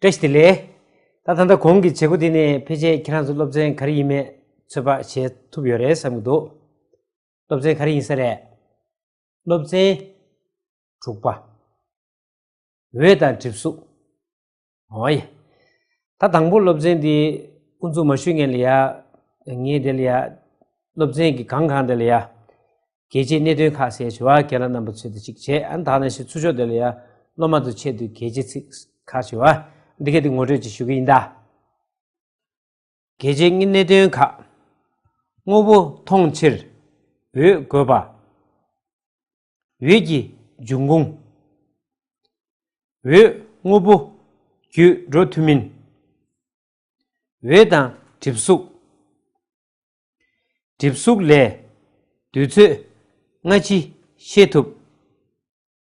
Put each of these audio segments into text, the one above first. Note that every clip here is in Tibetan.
བཀྲ་ཤིས་བདེ་ལེགས། ད་ད་ལྟ་གོང་གི་བྱེད་སྒོ་འདི་ནས་ཕལ་ཆེར་ཁྱེད་རང་ཚོ་སློབ་ཚན་ག་རེ་ཡིན་མེད་ཚོད་དཔག་བྱེད་ཐུབ་ཡོད་རེད་བསམ་གྱི་འདུག་སློབ་ཚན་ག་རེ་ཡིན་ས་རེད། སློབ་ཚན། དྲུག་པ། འོད་དང་གྲིབ་གཟུགས། ཨོ་ཡ། ད་དང་པོ་སློབ་ཚན་འདི་དབུ་འཛུགས་མ་ཞུས་ངེས་ལ་ཡ། ངས་དེ་ལ་ཡ། སློབ་ཚན་གྱི་གང་གང་དེ་ལ་ཡ། གལ་ཆེའི་གནད་དོན་ཁག་གསལ་བྱེད་བ་གལ་ལ་རྣམ་པ་ཚོད་ལྟ་ཅིག་བྱས་ཨ་ད་ནས་ཞུ་ཚུར་ཤོག་དེ་ལ་ཡ། སློབ་མ་ཚོ་ཆེད་དུ་གལ་ཆེ་ཚིག་ཁག་བྱེད་བ། འདི་གལ་ཏེ་ངོ་སྤྲོད་ཅིག་ཞུ་གི་ཡིན་ད། གལ་ཆེ་གཉིས་གནད་དོན་ཁག་དངོས་པོ་མཐོང་ཕྱིར་འོད་དགོས་པ། འོད་ཀྱི་འབྱུང་ཁུངས། འོད་དངོས་པོ་བརྒྱུད་འགྲོ་ཐུབ་མིན། འོད་དང་གྲིབ་གཟུགས། གྲིབ་གཟུགས་ལས་དུས་ཚོད་སྔ་ཕྱི་ཤེས་ཐུབ།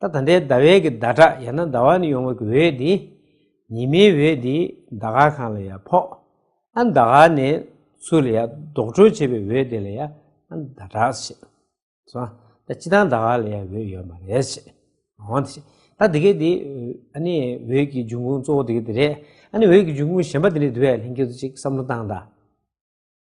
ད་ད་འདའི་ཟླ་བའི་གི་ཟླ་གྲགས་ཡང་ན་ཟླ་བ་ནི་ཡོང་བའི་གི་འོད་འདི་ཉི་མའི་འོད་འདི་ཟླ་ག་གང་ལ་ཡང་ཕོག་ཨ་ཟླ་ག་ནས་ཚུར་ལ་ཡང་ལྡོག་གྲོལ་བྱེད་པའི་འོད་དེ་ལ་ཡང་ཨ་ཟླ་གྲགས་བྱེད། སོ་ད་སྤྱི་དང་ཟླ་ག་ལ་ཡང་འོད་ཡོད་མ་རེད་བྱེད། འོང་དེ་བྱེད་ད་དེ་གའི་དེ་ཨ་ནི་འོད་ཀྱི་འབྱུང་ཁུངས་གཙོ་བོ་དེ་གའི་དེ་རེད་ཨ་ནི་འོད་ཀྱི་འབྱུང་ཁུངས་གཞན་པ་དེ་ནི་དེ་བས་ལྷན་སྐྱེས་སུ་ཅིག་བསམ་བློ་བཏང་ད།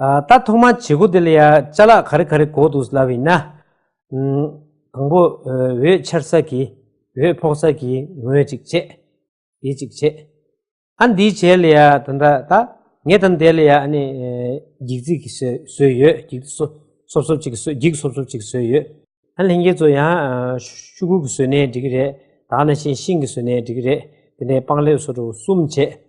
ད་ཐོག་མ་བྱེད་སྒོ་འདི་ལ་ཡ་བཅའ་ལག་ག་རེ་ག་རེ་གོ་འདུག་ཟླ་བའི་ན། དང་པོ་འོད་འཆར་ས་གི་འོད་ཕོག་ས་གི་ངོས་ཅིག་བྱས། དེ་ཅིག་བྱས། ཨ་འདི་བྱས་ལ་ཡ་ད་ད་ད་ངས་ད་འདས་ལ་ཡ་ཨ་ནི་འགྱིག་རྩིག་གི་སོས་ཡོད་འགྱིག་རྩིག་སོབ་སོབ་ཅིག་སོས་འགྱིག་སོབ་སོབ་ཅིག་སོས་ཡོད། ཨ་ལྷན་རྒྱས་ཚོ་ཡང་ཤུ་གུ་གི་སོས་ནས་འགྲིག་གི་རེད་ད་ཨ་ན་ཤིང་ཤིང་གི་སོས་ནས་འགྲིག་གི་རེད་དེ་ནས་སྤང་ལེབ་སོ་དྲུག་གསུམ་བྱས།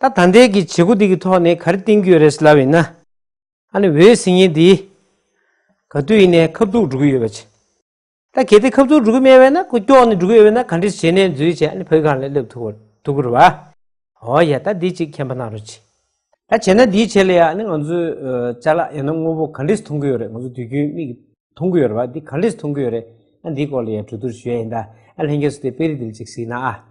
ད་ད་འདས་ཀྱི་བྱེད་སྒོ་འདི་གི་ཐོག་ནས་ག་རེ་བསྟན་རྒྱུ་ཡོད་རེད་ཟེར་ལབ་ཡིན་ན། ཨ་ནི་འོད་ཟིང་ཡིན་དེ། ག་དུས་ཡིན་ནས་ཁབ་ཐུག་འགྲོ་གི་ཡོད་པ་བྱས། ད་གལ་ཏེ་ཁབ་ཐུག་འགྲོ་གི་མེད་བས་ན་ཁོ་སྐྱོགས་ནས་འགྲོ་གི་ཡོད་བས་ན་ག་འདྲི་བྱས་ནས་འཛུལ་བྱས་ཨ་ནི་བོད་གངས་ལས་སླེབས་ཐུག་ཐུག་གི་རེད་བ། ཨོ་ཡ་ད་འདི་ཅིག་མཁྱེན་པ་གནང་རོགས་གྱིས། ད་བྱས་ན་འདིའི་ཆེད་ལས་ཨ་ནི་ང་ཚོས་བྱ་ལ་ཡང་ན་དངོས་པོ་ག་འདྲི་མཐོང་གི་ཡོད་རེད་ང་ཚོ་དུས་རྒྱུན་མིག་གིས་མཐོང་གི་ཡོད་རེད་བ་འདི་ག་འདྲི་མཐོང་གི་ཡོད་རེད་ཨ་འདིའི་སྐོར་ལ་ཡང་གྲོས་བསྡུར་ཞུ་ཡ་ཡིན་ད་ཨ་ལྷན་རྒྱས་སུ་དེ་སྤེལ་རིས་འདི་ལ་ཅིག་གཟིགས་ན་ཨ།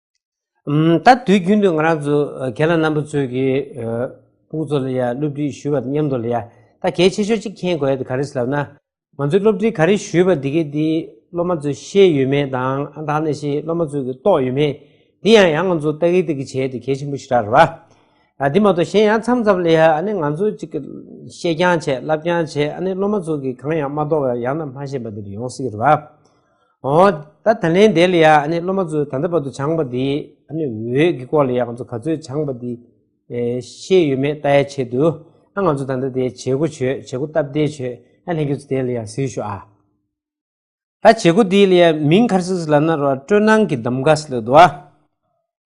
ད་དུས་རྒྱུན་དུ་ང་རང་ཚོ་རྒན་ལགས་རྣམ་པ་ཚོས་ཀྱི་སྤུན་ཚོ་ལ་ཡང་སློབ་ཁྲིད་ཞུས་པ་དང་མཉམ་དུ་ལ་ཡང་ད་གལ་ཆེ་ཤོས་གཅིག་མཁྱེན་དགོས་དེ་ག་རེ་ཟེར་ལབ་ན། ང་ཚོས་སློབ་ཁྲིད་ག་རེ་ཞུས་པ་དེ་གའི་དེ་སློབ་མ་ཚོས་ཤེས་ཡོད་མེད་དང་ཨང་དང་ནས་ཤེས་སློབ་མ་ཚོས་ཀྱི་རྟོགས་ཡོད་མེད་དེ་ཡང་ཡང་ང་ཚོ་ལྟ་གི་ལྟ་གི་བྱས་དེ་གལ་ཆེན་པོ་ཞིག་རག་རེད་བ། ཨ་དེ་མ་གཏོགས་གཞན་ཡང་མཚམས་མཚམས་ལ་ཡང་ཨ་ནི་ང་ཚོ་ཅིག་གི་ཤེས་རྐྱང་བྱས་བསླབ་རྐྱང་བྱས་ཨ་ནི་སློབ་མ་ཚོ་གི་གང་ཡང་མ་རྟོགས་པ་ཡང་ན་མ་ཤེས་པ་དེ་རེ་ཡོང་སྲིད་ཀྱི་རེད་བ། ཨོ། ད་ད་ལན་དེ་ལ་ཡ་ཨ་ནི་སློབ་མ་ཚོས་ད་ལྟ་བར་དུ་སྦྱངས་པ་དེ་ཨ་ནི་འོད་ཀྱི་སྐོར་ལ་ཡ་ང་ཚོ་ག་ཚོད་སྦྱངས་པ་དེ་ཤེས་ཡོད་མེད་ལྟ་ཡའི་ཆེད་དུ་ཨ་ང་ཚོ་ད་ལྟ་དེ་བྱེད་སྒོ་བྱོས་བྱེད་སྒོ་སྟབས་བདེ་བྱོས་ཨ་ལྷན་ཁྱོད་ཚོ་དེ་ལ་ཡ་གཟིགས་ཤོག་ཨ། ད་བྱེད་སྒོ་དེ་ལ་ཡ་མིང་ཁར་སིས་ལ་ན་རོ་ཨ་སྤྲོ་སྣང་གི་འདམ་ག་སི་ལོད་དོ་ཨ།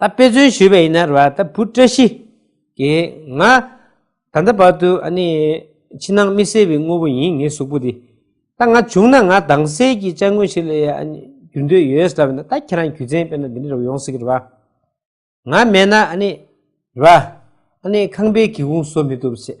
ད་དཔེ་མཚོན་ཞུས་པ་ཡིན་ན་རེད་ད་བུ་བཀྲ་ཤིས་ཀྱིས་ང་ད་ལྟ་བར་དུ་ཨ་ནི་ཕྱི་ནང་མི་གསལ་བའི་དངོས་པོ་ཡིན་ངའི་གཟུགས་པོ་འདི་ད་ང་བྱུང་ན་ང་དྭངས་གསལ་གྱི་ལྕགས་དངོས་ཤིག་ལ་ཡ་ཨ་ནི་འགྱུར་འདོད་ཡོད་ཟེར་བ་ན་ད་ཁྱེད་རང་རྒྱུ་མཚན་དཔེར་ན་འདི་འདྲ་ཡོང་སྲིད་གི་རེད་ང་མེད་ན་ཨ་ནི་རེད་ཨ་ནི་ཁང་པའི་སྒེའུ་ཁུང་བཟོ་མི་ཐུབ་ཟེར་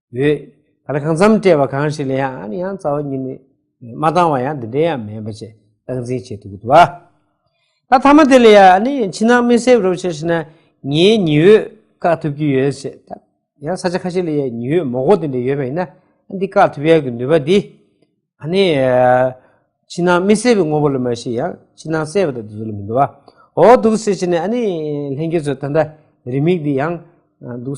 ཡོད། ད་ལྟ་གང་འཚམ་སྤྲད་པ་གང་ཞིག་ལ་ཡང་ཨ་ནི་ཡང་རྩ་བ་ཉིད་ནས་མ་བཏང་བ་ཡང་འདི་འདྲའི་ཡང་མེད་པ་ཅེས་སྟངས་འཛིན་བྱེད་ཐུབ་ཀྱི་འདུག་བ། ད་མཐའ་མ་དེ་ལ་ཡང་ཨ་ནི་ཡང་ཕྱི་ནང་མི་སེབ་རོགས་བྱས་ཤེ་ན་ངའི་ཉི་འོད་བཀག་ཐུབ་ཀྱི་ཡོད་ཅེས་ད་ཡང་ས་ཆ་ཁ་ཤས་ལ་ཡང་ཉི་འོད་མོག་པོ་དེ་འདྲ་ཡོད་པ་ཡིན་ན་འདི་བཀག་ཐུབ་ཡག་གི་ནུས་པ་འདི་ཨ་ནི་ཕྱི་ནང་མི་སེབ་པའི་དངོས་པོ་ལ་མ་གཞི་ཡང་ཕྱི་ནང་སེབ་པ་དང་དེ་ཚོ་ལ་མི་འདུག་བ་འོ་འདུག་ཟེར་བྱས་ནས་ཨ་ནི་ལྷན་རྒྱས་ཚོ་ད་ལྟ་རི་མིག་འདི་ཡང་འདུག་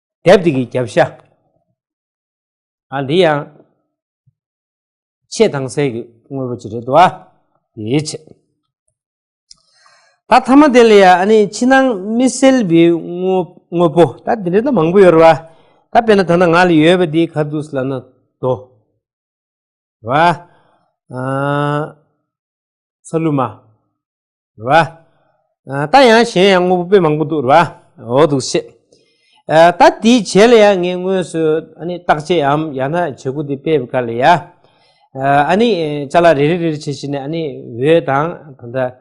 དེབ་དེ་གི་རྒྱབ་ཤ་ཨ་འདི་ཡང་ཆེས་དྭངས་གསལ་གི་དངོས་པོ་ཅིག་རེད་འདུག་ཨ་དེའི་ཕྱིར་ད་ཐ་མ་དེ་ལ་ཡང་ཨ་ནི་ཕྱི་ནང་མི་གསལ་བའི་དངོས་པོ་ད་དེ་འདྲ་ད་མང་པོ་ཡོད་རེད་བ་ད་དཔེར་ན་ད་ནང་ང་ལ་ཡོད་པ་དེ་ག་དུས་ལ་ན་དོ་བ་ཨ་ཚ་ལུ་མ་རེད་བ། ད་ཡང་གཞན་ཡང་དངོས་པོ་དཔེ་མང་པོ་འདུག་རེད་བ། འོ་འདུག་ཤེས། ད་འདི་བྱས་ལ་ཡང་ངས་དངོས་སུ་ཨ་ནི་བརྟག་དཔྱད་འམ་ཡང་ན་བྱེད་སྒོ་འདི་སྤེལ་བའི་སྐབས་ལ་ཡང། ཨ་ནི་བྱ་ལ་རེ་རེ་རེ་རེ་བྱས་བྱས་ནས་ཨ་ནི་འོད་དང་ད་ལྟ་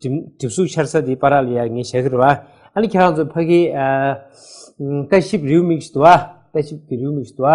གྲིབ་གཟུགས་འཆར་ས་འདི་པར་ར་ལ་ཡང་ངས་བྱས་ཀི་རེད་བ། ཨ་ནི་ཁྱེད་རང་ཚོ་ཕ་གིའི། ལྟ་ཞིབ་རེའུ་མིག་ཞིག་ཏུ་བ། ལྟ་ཞིབ་ཀྱི་རེའུ་མིག་ཞིག་ཏུ་བ།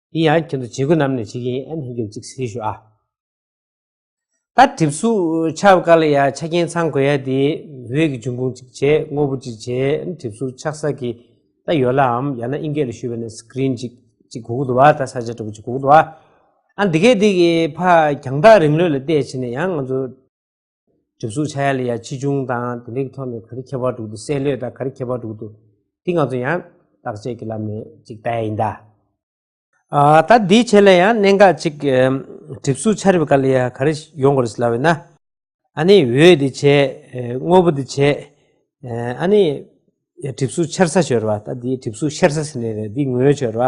ཡིན་ཡང་ཁྱེད་ཚོ་བྱེད་དགོས་རྣམས་ནས་བྱེད་ཀྱི་ཡིན་ཨ་ནི་ཧེ་གྱོད་ཅིག་ཟེར་གྱི་ཞུ་ཨ། ད་གྲིབ་གཟུགས་ཆགས་དཀའ་ལ་ཡ་ཆ་རྐྱེན་ཚང་དགོས་ཡ་དེ་འོད་ཀྱི་འབྱུང་ཁུངས་ཅིག་བྱེད་དངོས་པོ་ཅིག་བྱེད་ཨ་ནི་གྲིབ་གཟུགས་ཆགས་ས་གི་ད་ཡོད་ལ་འམ་ཡང་ན་ཨིན་སྐད་ལ་ཞུས་པ་ནས Screen ཅིག་ཅིག་གོ་གི་འདུག་བ་ད་ས་ཆ་དྲ་འབུ་ཅིག་གོ་གི་འདུག་བ་ཨ་ནི་འདི་གས་འདི་གི་ཕ་རྒྱང་ཐག་རིང་ལོད་ལ་བལྟས་བྱས་ནས་ཡང་ང་ཚོ། གྲིབ་གཟུགས་ཆ་ཡ་ལི་ཡ་ཆེ་ཆུང་དང་དེ་འདྲའི་ཐོག་ནས་ག་རེ་ཁྱད་པར་འགྲོ་འདུག་སའི་ལོས་དང་ག་རེ་ཁྱད་པར་འགྲོ་འདུག་དེ་ང་ཚོ་ཡང་བརྟག་དཔྱད་ཀྱི་ལམ་ནས་ཅིག་བལྟ་ཡ་ཡིན་ད། ད་དེའི་ཆེད་ལ་ཡང་གནད་འགག་ཅིག་གྲིབ་གཟུགས་ཆ་རིབ་ག་ལི་ཡ་ག་རེ་ཡོང་དགོས་རེད་ལབ་ཡོད་ན། ཨ་ནི་འོད་དེ་ཆེ་དངོས་པོ་དེ་ཆེ། ཨ་ནི་གྲིབ་གཟུགས་ཆེར་ས་ཞོར་བ་ད་དེའི་གྲིབ་གཟུགས་ཤེར་ས་ཟེར་ནས་རེད་དེའི་ངོས་ཞོར་བ།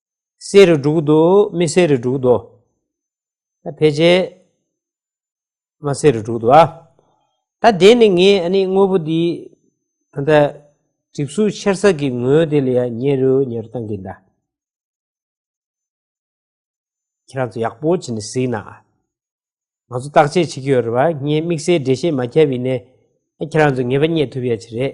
གསེར་རུ་འབྲུག་དུ་མི་གསེར་རུ་འབྲུག་དུ། ཕལ་ཆེར་མ་གསེར་རུ་འབྲུག་དུ་ཨ། ད་དེ་ནི་ངས་ཨ་ནི་དངོས་པོ་འདི་ད་ལྟ་གྲིབ་གཟུགས་ཆེར་ས་ཀྱི་ངོས་དེ་ལ་ཡང་ཉེ་རུ་ཉེ་རུ་བཏང་གིན་གདའ། ཁྱེད་རང་ཚོ་ཡག་པོ་བྱས་ནས་གཟིགས་ན་ཨ། ང་ཚོ་བརྟག་དཔྱད་བྱེད་ཀྱི་ཡོད་རེད་བ་ངས་དམིགས་བསལ་འགྲེལ་བཤད་མ་བརྒྱབ་ཡིན་ནས་ཁྱེད་རང་ཚོས་ངེས་པ་རྙེད་ཐུབ་ཡ་ཆེ་རེད།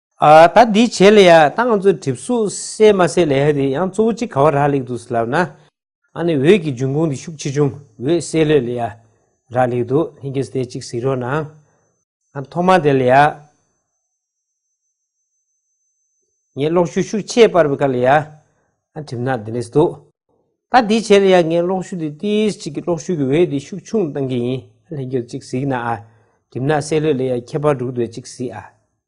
ད་འདི་བྱས་ལ་ཡ་ཏང་ཙུའི་གྲིབ་གཟུགས་བསལ་མ་བསལ་ལས་ཧ་དེ་ཡང་གཙོ་བོ་གཅིག་ག་བ་རག་ལེགས་འདུག་ཟེར་ལབ་ན། ཨ་ནི་འོད་ཀྱི་འབྱུང་ཁུངས་འདི་ཤུགས་ཆེ་ཆུང་འོད་བསལ་ལོས་ལ་ཡ་རག་ལེགས་འདུག་ལྷན་སྐྱེས་སྟེ་གཅིག་གཟིགས་རོགས་གནང། ཨ་ཐོག་མ་དེ་ལ་ཡ། ངས་གློག་ཤུགས་ཤུགས་ཆེས་སྤར་བའི་སྐབས་ལ་ཡ། ཨ་གྲིབ་ནག་འདི་ལེགས་འདུག་ད་འདི་བྱས་ལ་ཡ་ངས་གློག་ཤུགས་འདི་ཏིས་གཅིག་གིས་གློག་ཤུགས་ཀྱི་འོད་འདི་ཤུགས་ཆུང་གཏང་གི་ཡིན་ལྷན་སྐྱེས་སུ་གཅིག་གཟིགས་ན་ཨ་གྲིབ་ནག་བསལ་ལོས་ལ་ཡ་ཁྱད་པར་འབྲུག་འདོད་གཅིག་གཟིགས་ཨ།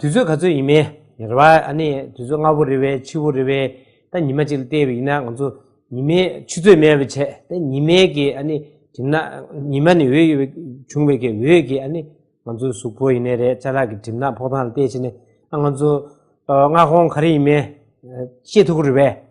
དུས་ཚོད་ག་ཚོད་ཡིན་མིན་རེད་བ་ཨ་ནི་དུས་ཚོད་སྔ་བོ་རེད་བས་ཕྱི་བོ་རེད་བས་ད་ཉི་མ་གཅིག་ལ་བལྟས་བས་ཡིན་ན་ང་ཚོ་ཉི་མའི་ཆུ་ཚོད་མེད་བས་ཆད་དེ་ཉི་མའི་གི་ཨ་ནི་དེ་ན་ཉི་མ་ནི་འོད་ཡོད་བས་བྱུང་བས་གི་འོད་གི་ཨ་ནི་ང་ཚོ་གཟུགས་པོ་ཡིན་ནས་རེད་བྱ་ལག་གི་གྲིབ་ནག་ཕོག་ཐང་ལ་བལྟས་བྱས་ནས་ཨ་ང་ཚོ་སྔ་ཁོང་ག་རེ་ཡིན་མིན་ཤེས་ཐུག་གི་རེད་བས་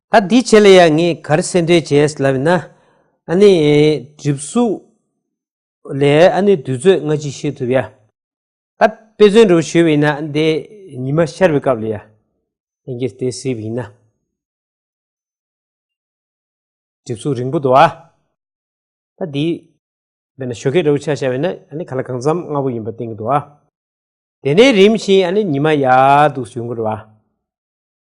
ད་འདི་བྱས་ལ་ཡང་ངས་གར་གསལ་འགྲེལ་བྱས་ལབ་ན། ཨ་ནི། གྲིབ་གཟུགས། ལས་ཨ་ནི་དུས་ཚོད་སྔ་ཕྱི་ཤེས་ཐུབ་ཡ། ད་དཔེ་མཚོན་དུ་བྱོས་བས་ན་འདི་ཉི་མ་ཤར་བའི་སྐབས་ལ་ཡ། ལྷན་སྐྱེས་དེ་གཟིགས་བས་ན། གྲིབ་གཟུགས་རིང་པོ་འདུག་ཨ། ད་འདི། བས་ན་ཞོ་ཁའི་འདྲ་བོ་ཆགས་ཤག་བས་ན་ཨ་ནི་ག་ལ་གང་འཚམ་སྔ་བོ་ཡིན་པ་བསྟན་གྱི་འདུག་ཨ། དེ་ནས་རིམ་བཞིན་ཨ་ནི་ཉི་མ་ཡག་འདུག་ཟེར་གྱི་འདུག་ཨ།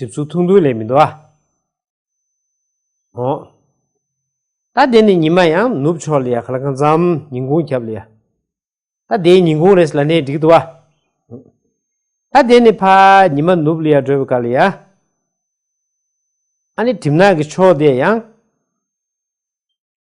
གྲིབ་ཚུགས་ཐུང་ཐུང་ལས་མི་འདའ། ཧོ། ད་དེ་ནས་ཉི་མ་ཡང་ནུབ་ཕྱོགས་ལས་ཧ་ལ་གང་ཙམ་ཉིན་གུང་ཁྱབ་ལ། ད་དེའི་ཉིན་གུང་རེས་ལ་ནས་འགྲིག་འདུག། ཧོ། ད་དེ་ནས་ཕ་ཉི་མ་ནུབ་ལ་བགྲོད་པའི་སྐབས་ལ། ཨ་ནི་གྲིབ་ནག་གི་ཕྱོགས་དེ་ཡང།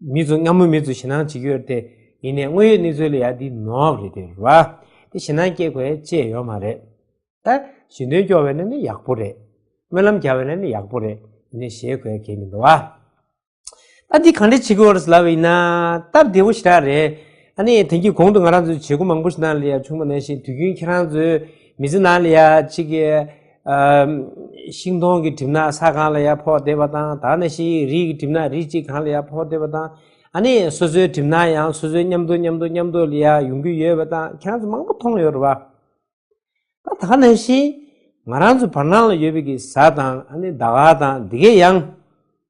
མི་ཚོ་སྔ་མོ་མི་ཚོ་ཞེ་སྣང་བྱེད་ཀྱི་ཡོད་དེ་ཡིན་ནས་དངོས་ཡོད་གནས་ཚུལ་ལ་ཡ་འདི་ནོག་རེད་དེ་རེད་བ་དེ་ཞེ་སྣང་སྐྱེ་དགོས་ཅེས་ཡོད་མ་རེད་ད། ཞེ་འདུན་སྐྱོ་བའི་ནི་ནི་ཡག་པོ་རེད། སྨོན་ལམ་རྒྱག་བའི་ནི་ནི་ཡག་པོ་རེད་ཡིན་ནས་ཞེ་དགོས་གལ་མི་འདུག་བ། ད་འདི་གང་འདྲ་བྱེད་ཀྱི་ཡོད་རེད་ལབ་པ་ཡིན་ན་སྟབས་བདེ་བོ་ཞེ་དྲག་རེད། ཨ་ནི་དེང་གི་གོང་དུ་ང་རང་ཚོས་བྱེད་སྒོ་མང་པོ་ཞིག་ནང་ལ་ཡ་བྱུང་བ་ནང་བཞིན་དུས་རྒྱུན་ཁྱེད་རང་ཚོས་མི་ཚེ་ནང་ལ་ཡ་གཅིག། ཤིང་སྡོང་གི་གྲིབ་ན་ས་གང་ལ་ཡང་ཕོག་བསྡད་པ་དང་ད་ནི་ཤིང་ཡིག་རིགས་ཀྱི་གྲིབ་ན་རིགས་གཅིག་གང་ལ་ཡང་ཕོག་བསྡད་པ་དང་ཨ་ནི་སོ་སོའི་གྲིབ་ན་ཡང་སོ་སོའི་མཉམ་དུ་མཉམ་དུ་མཉམ་དུ་ལ་ཡང་ཡོང་གི་ཡོད་པ་དང་ཁྱེད་རང་ཚོ་མང་པོ་མཐོང་ཡོད་རེད་པ། ད་ད་ནི་ཤིང་ང་རང་ཚོའི་བར་སྣང་ལ་ཡོད་པའི་གི་ཟ་དང་ཨ་ནི་ཟླ་བ་དང་འདི་གའི་ཡང།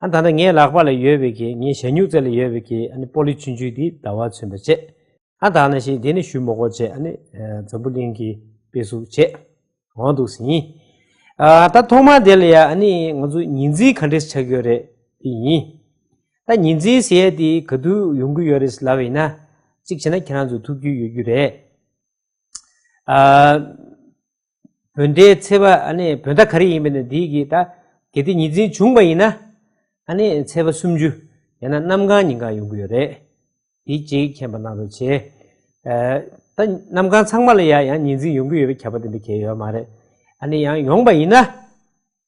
ཨ་ད་ནི་ངའི་ལག་པ་ལ་ཡོད་པའི་གི་ངའི་ཞྭ་སྨྱུག་རྩེ་ལ་ཡོད་པའི་གི་ཨ་ནི་པོ་ལི་ཆུན་ཆུན་དེའི་ཟླ་བ་མཚོན་པར་བྱེད། ཨ་ད་ནི་ཞིག་དེ་ནི་ཞུ་མོག་གོ་བྱེད་ཨ་ནི་འཛམ་བུ་གླིང་གི་དཔེ་གཟུགས་བྱེད། འོང་འདུག་ཟིན། ཨ་ད་ཐོག་མར་དེ་ལ་ཡ་ཨ་ནི་ང་ཚོ་ཉིན་རྩིས་ག་འདྲེས་ཆགས་ཀྱི་ཡོད་རེད་དེ་ཡིན། ད་ཉིན་རྩིས་ཟེར་ཡས་དེ་ག་དུས་ཡོང་གི་ཡོད་རེད་ལབ་ཡིན་ན། གཅིག་བྱས་ན་ཁྱེད་རང་ཚོ་ཐུག་རྒྱུ་ཡོད་རྒྱུ་རེད། བོད་མདའི་ཚེ་བ་བོད་མདའ་ག་རེ་ཡིན་པ་ནི་འདི་གི་ད་གལ་ཏེ་ཉི་འཛིན་བྱུང་བ་ཡིན་ན་ཚེ་བ་སུམ་ཅུ་ཡང་ན་གནམ་གང་ཉིན་གང་ཡོང་གི་ཡོད་རེད་དེ་གཅིག་མཁྱེན་པ་གནང་རོགས་བྱས། ད་གནམ་གང་ཚང་མ་ལ་ཡང་ཉི་འཛིན་ཡོང་གི་ཡོད་པའི་ཁྱབ་པ་དེ་འདྲ་གལ་ཡོད་མ་རེད་ཡང་ཡོང་བ་ཡིན་ན་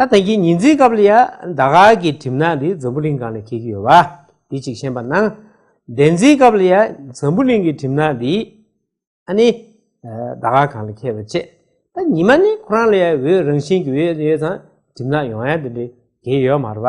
ད་ལྟ་གྱི་ཉིན་རྩིས་སྐབས་ལ་ཡང་ཟླ་གག་གི་གྲིབ་ནག་འདི་འཛམ་བུ་གླིང་གང་ནས་འཁེལ་གྱི་ཡོད་པ་དེ་གཅིག་ཤེས་པ་ན། འདན་རྩིས་སྐབས་ལ་ཡང་འཛམ་བུ་གླིང་གི་གྲིབ་ནག་འདི་ཨ་ནི་ཟླ་གག་གང་ལ་འཁེལ་བ་བཅས་ད་ཉི་མ་ནི་ཁོ་རང་ལ་ཡང་འོད་རང་བཞིན་གྱི་འོད་ཡོད་ཙང་གྲིབ་ནག་ཡོང་ཡ་འདི་འདྲའི་གེགས་ཡོད་མ་རེད་པ།